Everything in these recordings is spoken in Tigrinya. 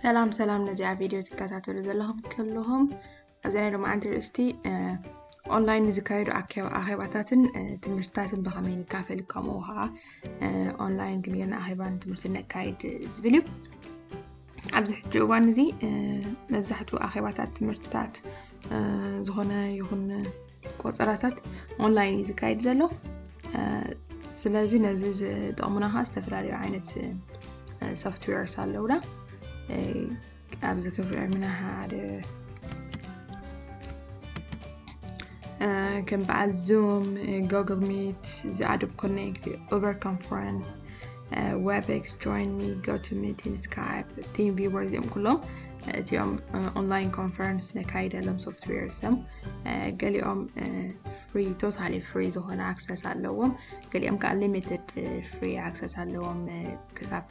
ሰላም ሰላም ነዚኣ ቪድዮ ትከታተሉ ዘለኹም ከለኹም ኣብዚ ናይ ሎማዓንቲ ርእስቲ ኦንላይን ንዝካየዱ ኣኼባታትን ትምህርትታትን ብኸመይ ንካፈል ከምኡ ከዓ ኦንላይን ክንገና ኣኼባን ትምህርቲ ነካይድ ዝብል እዩ ኣብዚ ሕጂ እዋን እዚ መብዛሕትኡ ኣኼባታት ትምህርትታት ዝኾነ ይኹን ቆፀራታት ኦንላይን እዩ ዝካየድ ዘሎ ስለዚ ነዚ ዝጠቕሙና ከዓ ዝተፈላለዩ ዓይነት ሶፍትዌርስ ኣለውና ኣብዚ ክፍሪ ዕድሜና ሓደ ከም በዓል ዙም ጎግል ሚት ዝኣዶብ ኮኔክት ኡበር ኮንፈረንስ ዌብክስ ጆይን ሚ ጎቱ ሚቲን ስካይፕ ቲም ቪበር እዚኦም ኩሎም እቲኦም ኦንላይን ኮንፈረንስ ነካይደሎም ሶፍትዌርስ እዮም ገሊኦም ፍሪ ቶታሊ ፍሪ ዝኾነ ኣክሰስ ኣለዎም ገሊኦም ከዓ ሊሚትድ ፍሪ ኣክሰስ ኣለዎም ክሳብ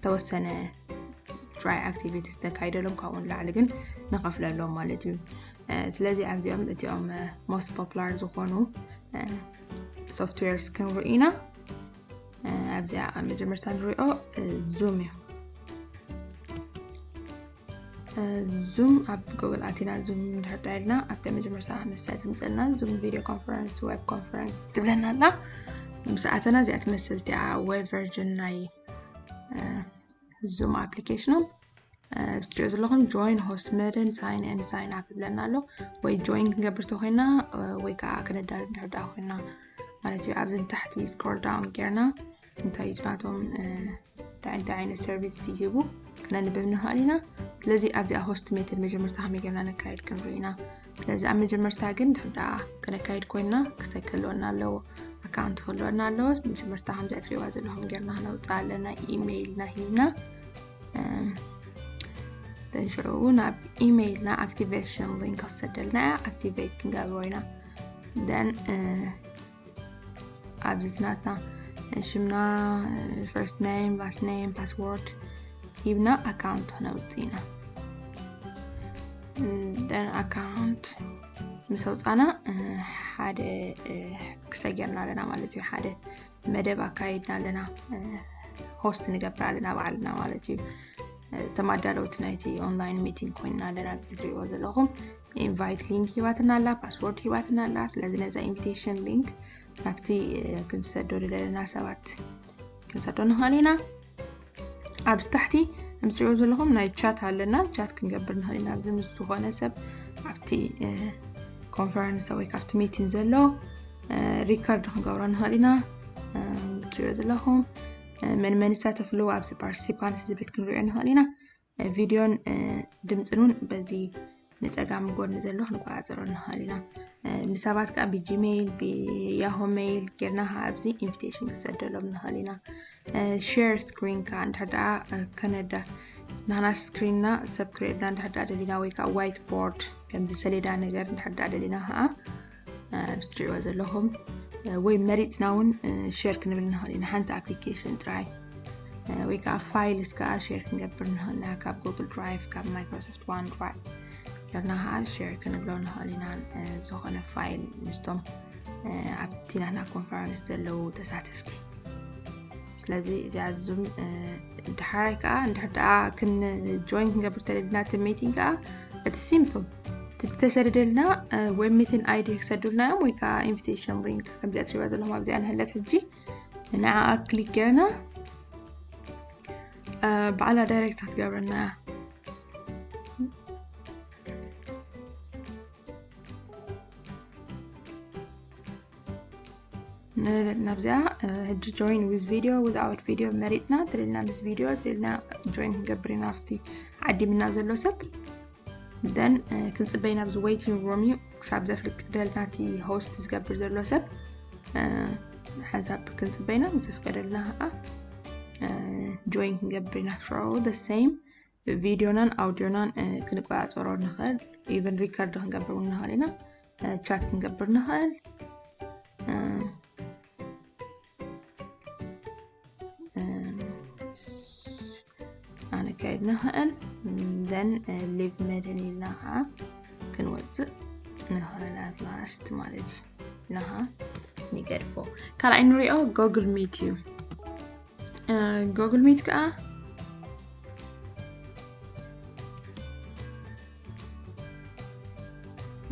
ተወሰነ ትራይ ኣክቲቪቲ ዝተካይደሎም ካብኡ ንላዕሊ ግን ንኸፍለሎም ማለት እዩ ስለዚ ኣብዚኦም እቲኦም ሞስት ፖፕላር ዝኾኑ ሶፍትዌርስ ክንርኢ ኢና ኣብዚኣ መጀመርታ ንሪኦ ዙም እዩ ዙም ኣብ ጎግል ኣቲና ዙም ድሕር ዳይልና ኣብቲ መጀመርታ ንሳ ትምፀልና ዙም ቪድዮ ኮንፈረንስ ዌብ ኮንፈረንስ ትብለና ኣላ ምስ ኣተና እዚኣ ትመስል እቲኣ ዌብ ቨርጅን ናይ ዙም ኣፕሊኬሽኖም ብትሪኦ ዘለኹም ጆይን ሆስት መደን ሳይን ን ሳይን ኣፕ ብለና ኣሎ ወይ ጆይን ክንገብር ተኮይና ወይ ከዓ ክነዳርብ ድሕር ዳ ኮይና ማለት እዩ ኣብዚ ታሕቲ ስክሮል ዳውን ጌርና እንታይ ጭናቶም እንታይ እንታይ ዓይነት ሰርቪስ ይህቡ ክነንብብ ንኽእል ኢና ስለዚ ኣብዚኣ ሆስት ሜትድ መጀመርታ ከመይ ጌርና ነካየድ ክንርኢ ኢና ስለዚ ኣብ መጀመርታ ግን ድሕዳ ከነካየድ ኮይና ክስታይ ከለወና ኣለዎ ኣካውንት ከለወና ኣለዎ መጀመርታ ከምዚ እትሪእዋ ዘለኹም ጌርና ክነውፅእ ኣለና ኢሜይልና ሂብና ተንሽዑ ናብ ኢሜይልና ኣክቲቬሽን ሊንክ ክሰደልና እያ ኣክቲቬት ክንገብሮ ኢና ደን ኣብዚት ናትና ሽምና ፈርስት ነም ላስት ነም ፓስዎርድ ሂብና ኣካውንት ክነውፅ ኢና ደን ኣካውንት ምስ ኣውፃና ሓደ ክሰገርና ኣለና ማለት እዩ ሓደ መደብ ኣካይድና ኣለና ሆስት ንገብር ኣለና ባዕልና ማለት እዩ ተማዳለውቲ ናይቲ ኦንላይን ሚቲንግ ኮይንና ኣለና ብቲ ትሪእዎ ዘለኹም ኢንቫይት ሊንክ ሂባትና ኣላ ፓስወርድ ሂባትና ኣላ ስለዚ ነዛ ኢንቪቴሽን ሊንክ ናብቲ ክንሰዶ ዝደለና ሰባት ክንሰዶ ንኽእል ኢና ኣብ ታሕቲ ከምትሪኦ ዘለኹም ናይ ቻት ኣለና ቻት ክንገብር ንኽእል ኢና ኣብዚ ምስ ዝኾነ ሰብ ኣብቲ ኮንፈረንስ ወይ ካብቲ ሚቲን ዘሎ ሪከርድ ክንገብሮ ንኽእል ኢና ትሪኦ ዘለኹም መን መን ይሳተፍሉ ኣብዚ ፓርቲሲፓንት ዝብል ክንሪኦ ንኽእል ኢና ቪድዮን ድምፅን እውን በዚ ንፀጋም ጎድኒ ዘሎ ክንቆፃፀሮ ንኽእል ኢና ንሰባት ከዓ ብጂሜይል ብያሆ ሜይል ጌርና ከዓ ኣብዚ ኢንቪቴሽን ክንሰደሎም ንኽእል ኢና ሼር ስክሪን ከዓ እንድሕር ደኣ ከነዳ ንሕና ስክሪንና ሰብ ክርእየልና እንድሕር ደኣ ደሊና ወይ ከዓ ዋይት ቦርድ ከምዚ ሰሌዳ ነገር እንድሕር ደኣ ደሊና ከዓ ትሪእዎ ዘለኹም ወይ መሪፅና እውን ሸር ክንብል ንኽእል ኢና ሓንቲ ኣፕሊኬሽን ጥራይ ወይ ከዓ ፋይልስ ከዓ ሸር ክንገብር ንኽእል ኢና ካብ ጉግል ድራይቭ ካብ ማይክሮሶፍት ዋን ድራይቭ ጌርና ከዓ ሸር ክንብሎ ንኽእል ኢና ዝኾነ ፋይል ምስቶም ኣብቲ ናትና ኮንፈረንስ ዘለዉ ተሳተፍቲ ስለዚ እዚኣ ዙም ድሓራይ ከዓ እንድሕር ደኣ ክንጆይን ክንገብር ተለድና እቲ ሚቲንግ ከዓ እቲ ሲምፕል ተሰደደልና ወይ ሚትን ኣይዲ ክሰዱልና እዮም ወይ ከዓ ኢንቪቴሽን ሊንክ ከምዚኣ ትሪባ ዘለኹም ኣብዚኣ ንህለት ሕጂ ንዓኣ ክሊክ ጌርና ብዓላ ዳይሬክት ክትገብረና እያ ናብዚኣ ሕጂ ጆይን ዊዝ ቪድዮ ዊዝ ኣውት ቪድዮ መሪፅና ትልልና ምስ ቪድዮ ትልልና ጆይን ክንገብር ኢና ኣብቲ ዓዲምና ዘሎ ሰብ ደን ክንፅበይ ናብዚ ወይቲንግ ሮም እዩ ክሳብ ዘፍልቅ ደልና እቲ ሆስት ዝገብር ዘሎ ሰብ ሓንሳብ ክንፅበይና ዘፍቀደልና ከዓ ጆይን ክንገብር ኢና ሽዑ ደ ሰይም ቪድዮናን ኣውድዮናን ክንቆፃፀሮ ንኽእል ኢቨን ሪከርድ ክንገብር እውን ንኽእል ኢና ቻት ክንገብር ንኽእል ኣነካየድ ንኽእል ዘን ሊቭ መድን ኢልና ከዓ ክንወፅእ ንኽእል ኣት ላስት ማለት እዩ ኢልና ከዓ ንገድፎ ካልኣይ ንሪኦ ጎግል ሚት እዩ ጎግል ሚት ከዓ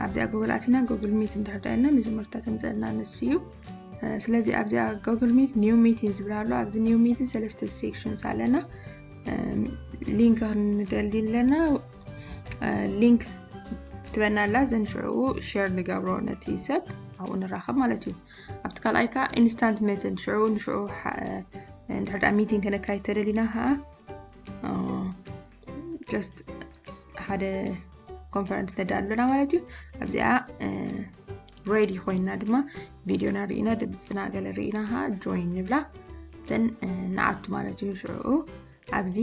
ኣብዚኣ ጎግል ኣቲና ጎግል ሚት እንድሕር ዳይና መጀመርታ ተምፀልና ንሱ እዩ ስለዚ ኣብዚኣ ጎግል ሚት ኒው ሚቲን ዝብል ኣሎ ኣብዚ ኒው ሚቲን ሰለስተ ሴክሽንስ ኣለና ሊንክ ክንደሊ ኣለና ሊንክ ትበና ኣላ ዘን ሽዕኡ ሸር ንገብሮ ነቲ ሰብ ኣብኡ ንራኸብ ማለት እዩ ኣብቲ ካልኣይ ከዓ ኢንስታንት መትን ሽዕኡ ንሽዑ እንድሕር ሚቲንግ ከነካይድ ተደሊና ከዓ ጀስት ሓደ ኮንፈረንስ ነዳእ ኣሎና ማለት እዩ ኣብዚኣ ሬዲ ኮይና ድማ ቪድዮና ርኢና ድምፅና ገለ ርኢና ከዓ ጆይን ንብላ ን ንኣቱ ማለት እዩ ሽዕኡ ኣብዚ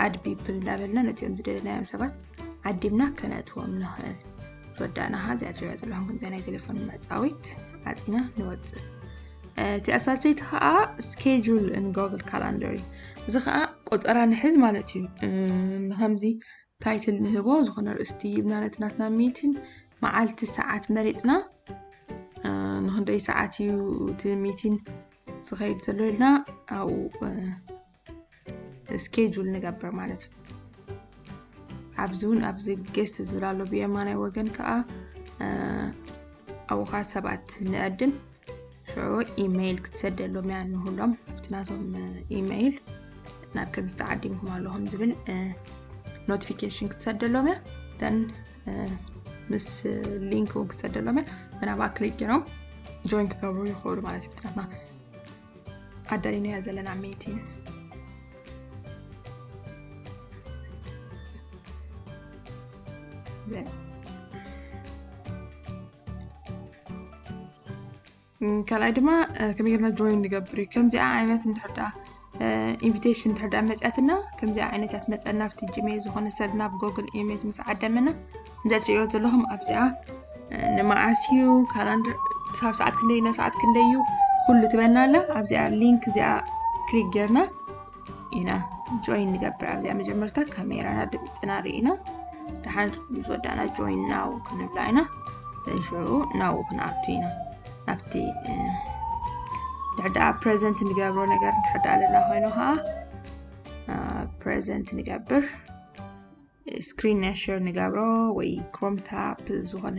ኣድ ፒፕል እንዳበልና ነቲኦም ዝደለናዮም ሰባት ዓዲምና ከነእትዎም ንኽእል ዝወዳእና ከዓ እዚኣ ትሪኦ ዘለኹም ከምዚኣ ናይ ቴሌፎን መዕፃዊት ዓፂና ንወፅእ እቲ ኣሳሰይቲ ከዓ ስኬጁል ንጎግል ካላንደር እዩ እዚ ከዓ ቆፀራ ንሕዝ ማለት እዩ ንከምዚ ታይትል ንህቦ ዝኾነ ርእስቲ ይብና ነቲ ናትና ሚትን መዓልቲ ሰዓት መሪፅና ንክንደይ ሰዓት እዩ እቲ ሚቲን ዝኸይድ ዘሎ ኢልና ኣብኡ ስኬጁል ንገብር ማለት እዩ ኣብዚ እውን ኣብዚ ጌስት ዝብል ኣሎ ብየማናይ ወገን ከዓ ኣብኡ ከዓ ሰባት ንዕድም ሽዑ ኢመይል ክትሰደሎም እያ ንህሎም እቲ ናቶም ኢመይል ናብ ከምዚ ተዓዲምኩም ኣለኹም ዝብል ኖቲፊኬሽን ክትሰደሎም እያ ተን ምስ ሊንክ እውን ክትሰደሎም እያ ተናብኣ ክሊክ ገይሮም ጆይን ክገብሩ ይኽእሉ ማለት እዩ ብትናትና ኣዳሊናዮ ዘለና ሜቲን ካልኣይ ድማ ከመይ ጌርና ጆይን ንገብር እዩ ከምዚኣ ዓይነት እንድሕዳ ኢንቪቴሽን እንድሕዳ መፅያትና ከምዚኣ ዓይነት እያ ትመፀና ኣብቲ ጂሜል ዝኾነ ሰብ ናብ ጎግል ኢሜል ምስ ዓደመና ዘትሪዮ ዘለኹም ኣብዚኣ ንመዓስ እዩ ካላንደር ክሳብ ሰዓት ክንደይ ና ሰዓት ክንደይ እዩ ኩሉ ትበና ኣላ ኣብዚኣ ሊንክ እዚኣ ክሊክ ጌርና ኢና ጆይን ንገብር ኣብዚኣ መጀመርታ ካሜራና ድምፅና ርኢና ድሓን ምስ ወዳእና ጆይን ናው ክንብላ ኢና ሽዑ ናው ክንኣቱ ኢና ናብቲ ድሕዳኣ ፕሬዘንት ንገብሮ ነገር ድሕዳ ኣለና ኮይኑ ከዓ ፕሬዘንት ንገብር ስክሪን ናይ ሸር ንገብሮ ወይ ክሮም ታፕ ዝኾነ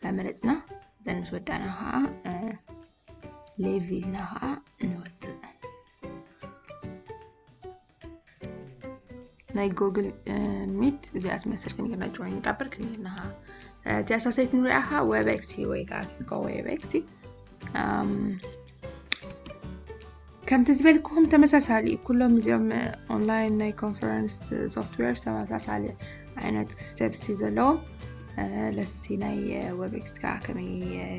መመረፅና ዘን ምስ ወዳእና ከዓ ሌቪልና ከዓ ንወፅእ ናይ ጎግል ሚት እዚኣ ትመስል ከም ጌርና ጆይን ንጋበር ከም ጌርና ተሳሰይት ንሪኣ ከዓ ዌብኤክሲ ወይ ከዓ ኪስኮ ዌብኤክሲ ከምቲ ዝበልክኹም ተመሳሳሊ እዩ ኩሎም እዚኦም ኦንላይን ናይ ኮንፈረንስ ሶፍትዌር ተመሳሳሊ ዓይነት ስቴፕስ እዩ ዘለዎም ለሲ ናይ ወብኤክስ ከዓ ከመይ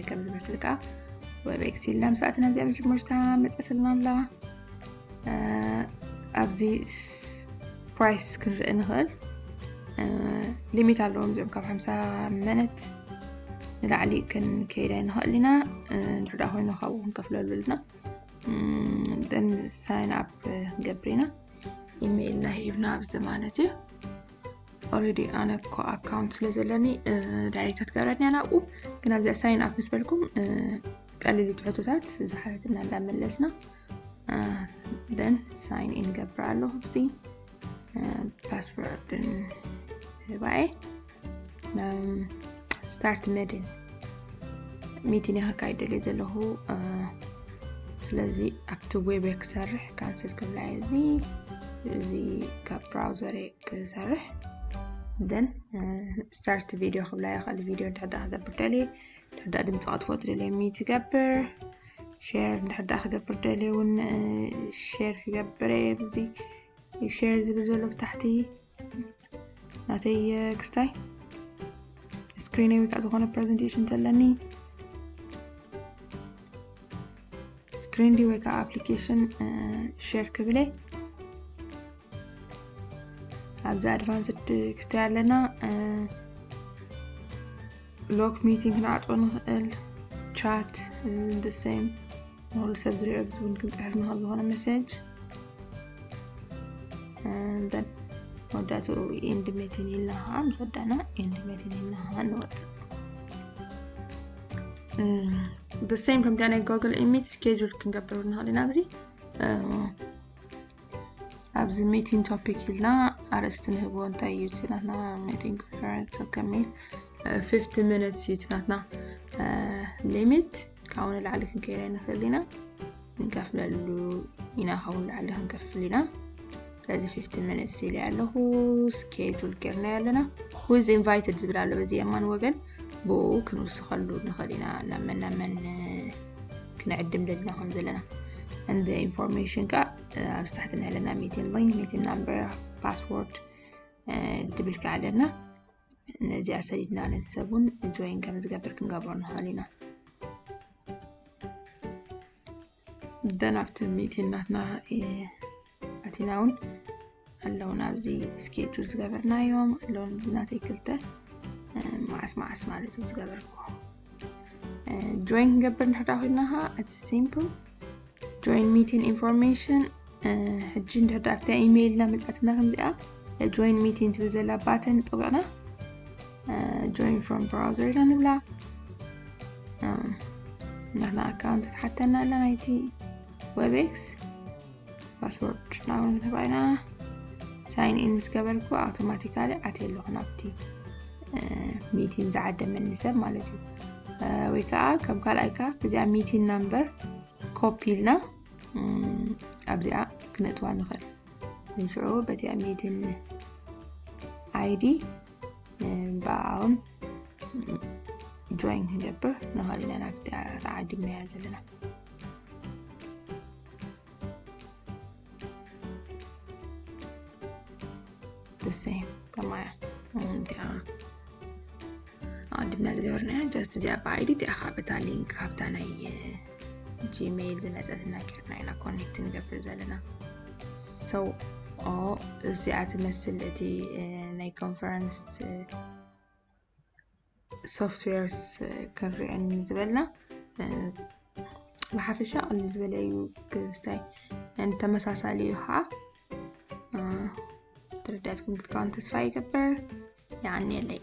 ከም ዝመስል ከዓ ወብኤክስ ኢልና ምስኣትና እዚኣ መጀመርታ መፀትልና ኣላ ኣብዚ ፕራይስ ክንርኢ ንኽእል ሊሚት ኣለዎም እዚኦም ካብ ሓምሳ መነት ንላዕሊ ክንከይድ ኣይንኽእል ኢና ንድሕዳ ኮይኑ ካብኡ ክንከፍለሉ ኣለና ደን ሳይን ኣፕ ክንገብር ኢና ኢሜይልና ሂብና ኣብዚ ማለት እዩ ኦልሬዲ ኣነ እኮ ኣካውንት ስለ ዘለኒ ዳይሬክታት ገብረኒ ናብኡ ግን ኣብዚኣ ሳይን ኣፕ ምስ በልኩም ቀሊል ትሕቶታት ዝሓተትና እንዳመለስና ደን ሳይን ኢን ገብር ኣለኹ እዚ ፓስወርድን ህባኤ ስታርት መድን ሚቲን ከካይድ ደልየ ዘለኹ ስለዚ ኣብቲ ዌብ ክሰርሕ ካንስል ክብላ እዚ እዚ ካብ ብራውዘር ክሰርሕ ደን ስታርት ቪድዮ ክብላ ይኽእል ቪድዮ ድሕዳ ክገብር ደልየ ድሕዳ ድምፂ ከጥፎ ትደልየ ሚት ይገብር ሼር እንድሕር ደኣ ክገብር ደልየ እውን ሼር ክገብር እየ ብዚ ሼር ዝብል ዘሎ ብታሕቲ ናተይ ክስታይ ስክሪነይ ወይ ከዓ ዝኾነ ፕሬዘንቴሽን ተለኒ ስክሪን ዲ ወይ ከዓ ኣፕሊኬሽን ሼር ክብለ ኣብዚ ኣድቫንስድ ክስታይ ኣለና ሎክ ሚቲንግ ክንዓፅቦ ንኽእል ቻት ንድሰይም ንኩሉ ሰብ ዝሪኦ ዝብል ክንፅሕፍ ንኽእል ዝኾነ መሴጅ ንተን መወዳእትኡ ኢንድ ሜቲን ኢልና ከዓ ምስ ወዳእና ኢንድ ሜቲን ኢልና ከዓ ንወፅእ ብሰይም ከምታ ናይ ጎግል ኢሚት ስኬጁል ክንገብር ንኽእል ኢና ኣብዚ ኣብዚ ሚቲንግ ቶፒክ ኢልና ኣርእስቲ ንህቦ እንታይ እዩ እቲ ናትና ሚቲንግ ኮንፈረንስ ከሚት 50 ሚኒትስ እዩ እቲ ናትና ሊሚት ካብኡ ንላዕሊ ክንከይደ ንኽእል ኢና ንከፍለሉ ኢና ካብኡ ንላዕሊ ክንከፍል ኢና ስለዚ 50 ሚኒትስ ኢለ ኣለኹ ስኬጁል ጌርና ኣለና ዊዝ ኢንቫይትድ ዝብል ኣሎ በዚ የማን ወገን ብኡ ክንውስኸሉ ንኽእል ኢና ናብ መን ናብ መን ክንዕድም ደልና ከም ዘለና እንደ ኢንፎርሜሽን ከ ኣብ ስታሕቲ ንዕለና ሜቲን ሊንክ ሜቲን ናምበር ፓስወርድ ትብል ከ ኣለና ነዚኣ ሰዲድና ነዚ ሰብ እውን ጆይን ከም ዝገብር ክንገብሮ ንኽእል ኢና ደን ኣብቲ ሚቲን ናትና ኣቲና እውን ኣለውን ኣብዚ ስኬጁል ዝገበርናዮም ኣለውን ብናተይ ክልተ መዓስ መዓስ ማለት እዩ ዝገበርኩ ጆይን ክንገብር ንሕዳ ኮይና ከዓ እቲ ሲምፕል ጆይን ሚቲን ኢንፎርሜሽን ሕጂ እንድሕዳ ኣብታ ኢሜይልና መፅኣትና ከምዚኣ ጆይን ሚቲን ትብል ዘላ ባተን ጠቢቕና ጆይን ፍሮም ብራውዘር ኢና ንብላ ንሕና ኣካውንት ትሓተና ኣላ ናይቲ ዌብኤክስ ፓስወርድ ናብኡ ንተባኢና ሳይን ኢን ምስ ገበርኩ ኣውቶማቲካሊ ኣትየ ኣለኹ ናብቲ ሚቲን ዝዓደመኒ ሰብ ማለት እዩ ወይ ከዓ ከም ካልኣይካ እዚኣ ሚቲን ናምበር ኮፒ ኢልና ኣብዚኣ ክነእትዋ ንኽእል ንሽዑ በቲኣ ሚቲን ኣይዲ ብኣውን ጆይን ክንገብር ንኽእል ኢና ናብቲ ተዓዲምናያ ዘለና ደሰይም ከማያ እዚኣ ኣድምና ዝገበርናያ ጀስት እዚኣ ብኣይዲ እቲኣ ከዓ በታ ሊንክ ካብታ ናይ ጂሜይል ዝመፀትና ጌርና ኢና ኮኔክት ንገብር ዘለና ሰው ኦ እዚኣ ትመስል እቲ ናይ ኮንፈረንስ ሶፍትዌርስ ክንሪኦ ዝበልና ብሓፈሻ ቅሊ ዝበለ እዩ ክስታይ ተመሳሳሊ እዩ ከዓ ተረዳትኩም ክትከውን ተስፋ ይገበር ይዓንየለይ